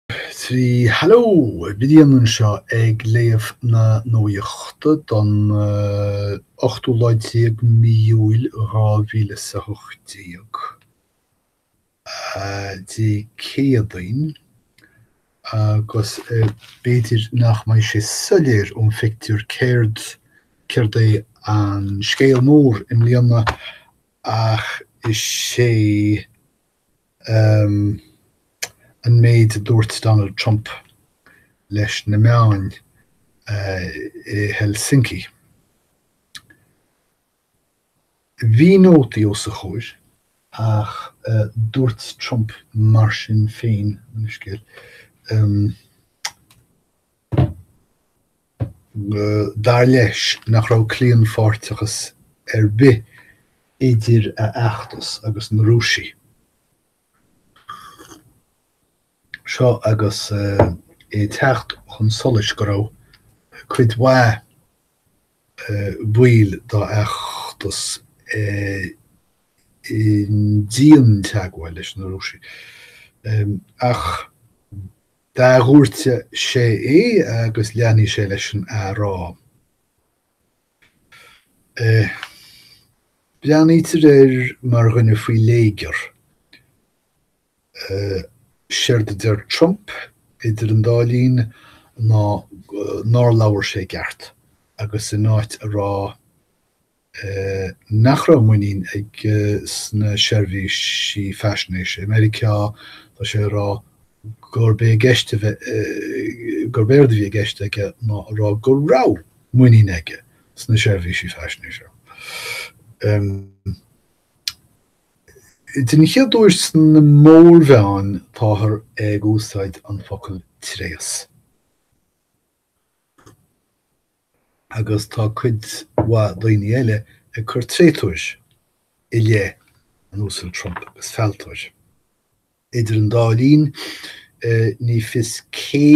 3 hello! Brian anseo ag léamh na nuachta don ochtú lá déag mí Iúil 2018, Dé Céadaoin, agus b'fhéidir nach mbeidh sé soiléir ón phictiúr céard céard é an scéal mór i mbliana ach is é um an méid a dúirt Donald Trump leis na meáin i Helsinki. Bhí nótaí os a chomhair. Ach dúirt Trump mar sin féin, an scéal. Dar leis nach raibh claonpháirteachas ar bith idir a fheachtas agus na Rúisigh. Seo agus é ag teacht chun solais go raibh cuid mhaith baill dá fheachtas i ndianteagmháil leis na Rúisigh. Ach. D'athdhúirt sé é agus leanfaidh sé leis an athrá. Breathnaítear air mar dhuine faoi léigear. Séard a deir Trump, idir an dá linn, ná nár labhair sé i gceart, agus in áit a rá nach raibh muinín aige sna seirbhísí faisnéise i Meiriceá, tá sé ag rá gurb é i gceist, gurb éard a bhí i gceist aige ná a rá go raibh muinín aige sna seirbhísí faisnéise. Den chéad uair sna mórmheáin táthar ag úsáid an focal 'tréas'. agus tá cuid mhaith daoine eile ag cur tréatúir i leith an Uasail Trump agus fealltóir. Idir an dá linn, ní fios cé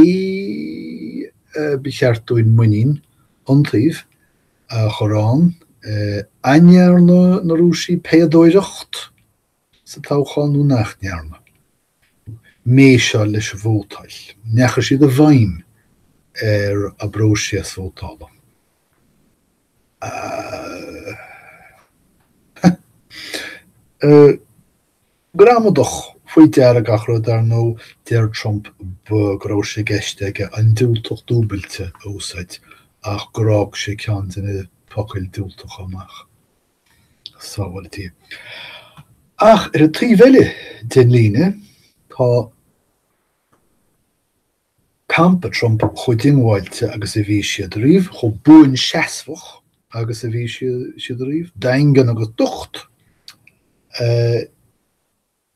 ba cheart dúinn muinín iontaoibh a chur ann. An ndearna na Rúisigh péadóireacht sa toghchán nó nach ndearna? méiseáil leis an vótáil. An ndeachaigh siad i bhfeidhm ar an bpróiseas vótála. Gramadach, faoi deara gach rud, ar ndóigh, deir Trump go raibh sé i gceist aige an diúltach dúbailte a úsáid ach gur fhág sé ceann de na focail diúltacha amach. sábháiltí. Ach ar an taobh eile den líne, tá campa Trump chomh diongbháilte agus a bhí siad riamh, chomh buanseasmhach agus a bhí siad riamh, daingean agus docht.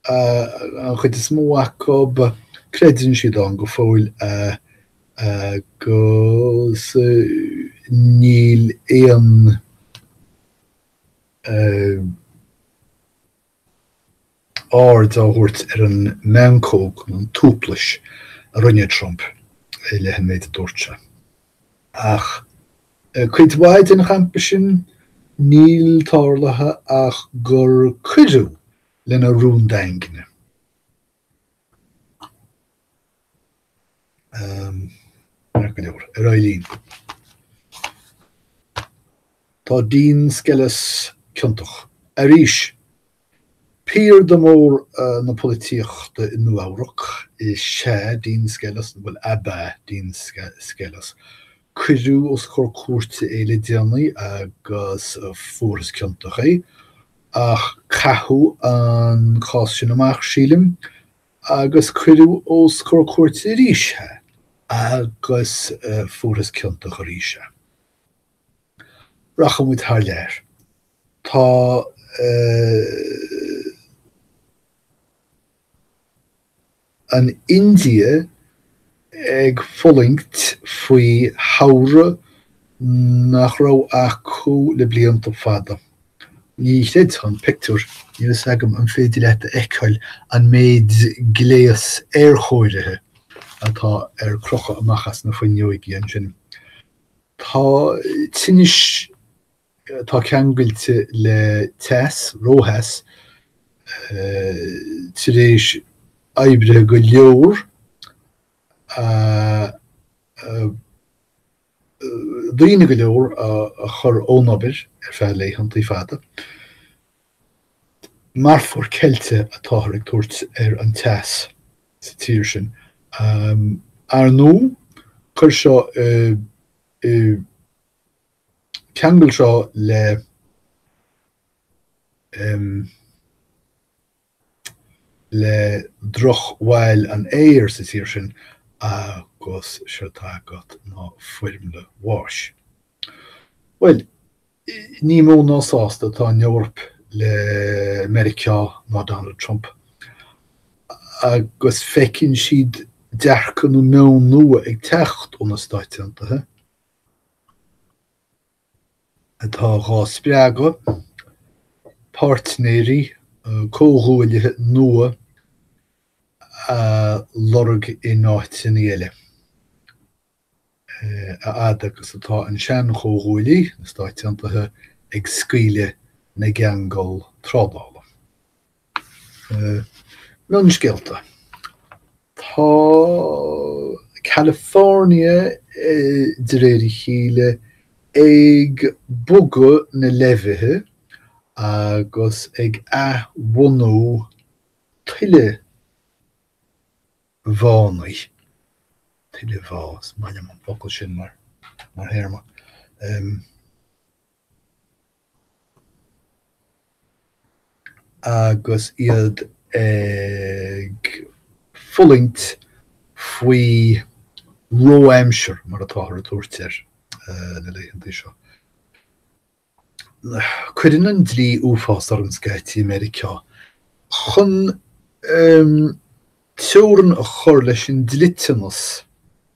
an chuid is mó acu, creideann siad ann go fóill agus níl aon aird á thabhairt ar an meancóg nó an tuaiplis a rinne Trump i leith an méid a dúirt sé. Ach cuid mhaith den champa sin, níl tarlaithe ach gur cuireadh lena rún daingne. Ar aghaidh linn. Tá Dean Skelos ciontach. Arís, piarda mór na polaitíochta i Nua-Eabhrac is ea Dean Skelos, bhuel, ab ea Dean Skelos. Cuireadh os comhair cúirte é le déanaí agus fuarthas ciontach é. Ach caitheadh an cás sin amach, sílim, agus cuireadh os comhair cúirte arís é agus fuarthas ciontach arís é. Rachaidh muid thar lear. Tá. An India ag fulaingt faoi shamhradh nach raibh acu le blianta fada. Ní chreidfeá an pictiúr. Níl a fhios agam an féidir leat a fheiceáil an méid gléas aerchóirithe atá ar crochadh amach as na fuinneoigí ansin. Tá tinnis atá ceangailte le teas, rótheas, tar éis oibrithe go leor a daoine go leor a chur ón obair ar feadh laethanta fada. Marfóir ceilte atáthar ag tabhairt ar an teas sa tír sin. Ar ndóigh, chuir seo i ceangal seo le le droch bhail an aeir sa tír sin agus seo atá agat ná foirmle bháis. Bhuel, ní mó ná sásta atá an Eoraip le Meiriceá ná Donald Trump agus feiceann siad dearcadh nó meon nua ag teacht ó na Stáit Aontaithe, atá dá spreagadh, páirtnéirí comhghuaillithe nua a lorg in áiteanna eile, a fhad agus atá an sean-chomhghuaillí, na Stáit Aontaithe, ag scaoileadh na gceangal trádála. Mionscéalta, Tá California, de réir a chéile, ag bogadh na leibhithe agus ag athbhunú tuilemhánna, tuilemhá, is maith liom an focal sin mar théarma. agus iad ag fulaingt faoi ró-aimsir, mar atáthar ag tabhairt air na laethanta seo. Cuireann an dlí uafás orm scaití i Meiriceá chun. teorainn a chur leis an dliteanas,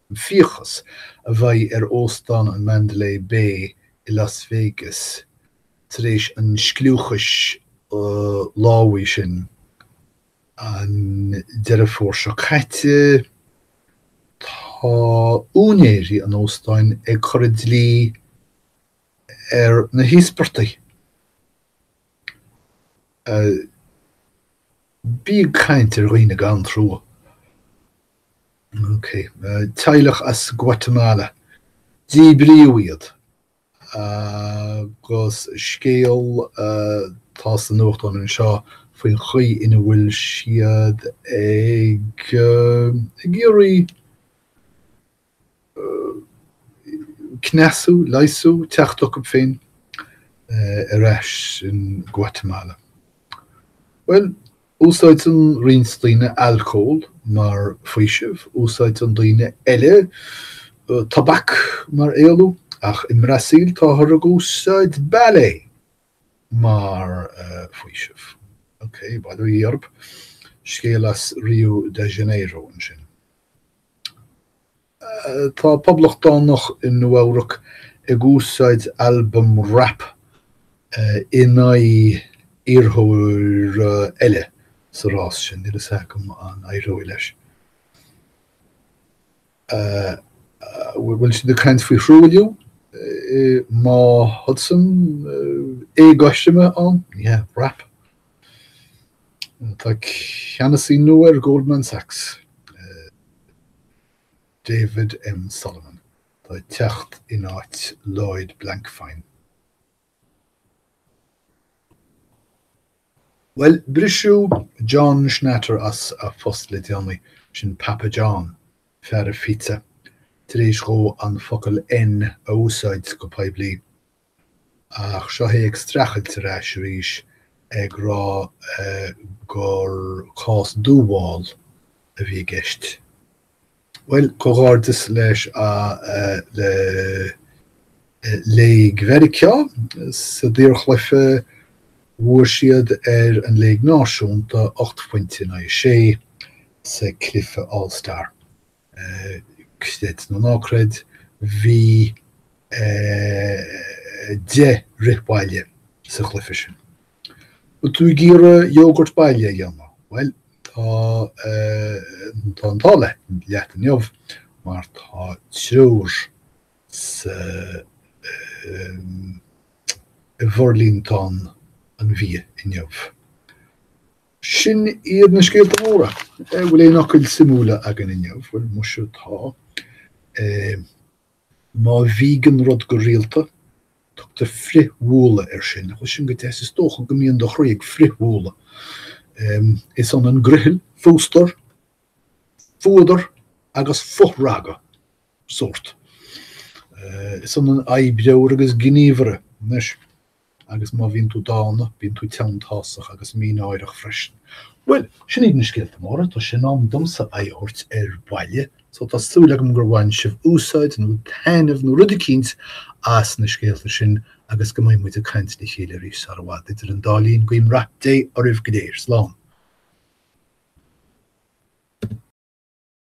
an fiachas, a bheidh ar Óstán an Mandalay Bay i Las Vegas tar éis an scliúchais lámhaigh sin an Deireadh Fómhair seo caite Tá úinéirí an óstáin ag cur an dlí ar na híospartaigh. Bí ag caint ar dhaoine gan trua. Ok. Teaghlach as Guatamala. Díbríodh iad agus scéal atá sa nuachtán anseo faoin chaoi ina bhfuil siad ag ag iarraidh. cneasú, leigheasú, teacht chucu féin ar ais in Guatemala. Bhuel, úsáideann roinnt daoine alcól mar faoiseamh, úsáideann daoine eile tobac mar éalú, ach i mBrasaíl táthar ag úsáid ballet mar faoiseamh. Ok, bail ó Dhia ort, scéal as Rio de Janeiro ansin. Tá poblachtánach i Nua-Eabhrac ag úsáid albam rap in aghaidh iarrthóra eile sa rás sin. Níl a fhios agam an éireoidh leis. An bhfuil siad ag caint faoi thruailliú i mBá Hudson? Éagothroime ann? Yeah, rap. Tá ceannasaí nua ar Goldman Sachs, David M. Solomon, atá ag teacht in áit Lloyd Blankfein. Bhuel, briseadh John Schnatter as a phost le déanaí, sin Papa John, fear an phíotsa, tar éis dhó an focal N a úsáid go poiblí. Ach seo é ag streachailt ar ais arís ag rá gur cás dúmháil a bhí i gceist. Bhuel, comhghairdeas leis le Léig Mheiriceá sa daorchluiche, bhuaigh siad ar an Léig Náisiúnta ocht phointe in aghaidh a sé sa cluiche All Star. Creid nó ná creid, bhí deich rith baile sa chluiche sin. Tú ag iarraidh yogurt baile a dhéanamh? Bhuel, tá an t-ádh leat inniu mar tá treoir sa bhforlíontán an bhia inniu. Sin iad na scéalta móra. An bhfuil aon fhocail suimiúla againn inniu? Bhuel, muise tá. Má bhíogann rud go rialta, tugtar frithbhualadh air sin. Nach bhfuil sin go deas, is dócha go mbíonn do chroí ag frithbhualadh. Is ionann griothal, fústar, fuadar agus fothragadh sórt. Is ionann oibreoir agus gníomhaire. Agus má bhíonn tú dána, bíonn tú teanntásach agus mínáireach freisin. Bhuel, sin iad na scéalta móra. Tá sé in am domsa aghaidh a thabhairt ar bhaile, so tá súil agam gur bhain sibh úsáid, nó taitneamh, nó rud eicínt, as na scéalta sin, agus go mbeidh muid ag caint le chéile arís sar i bhfad. Idir an dá linn, guím rath Dé oraibh go léir. Slán!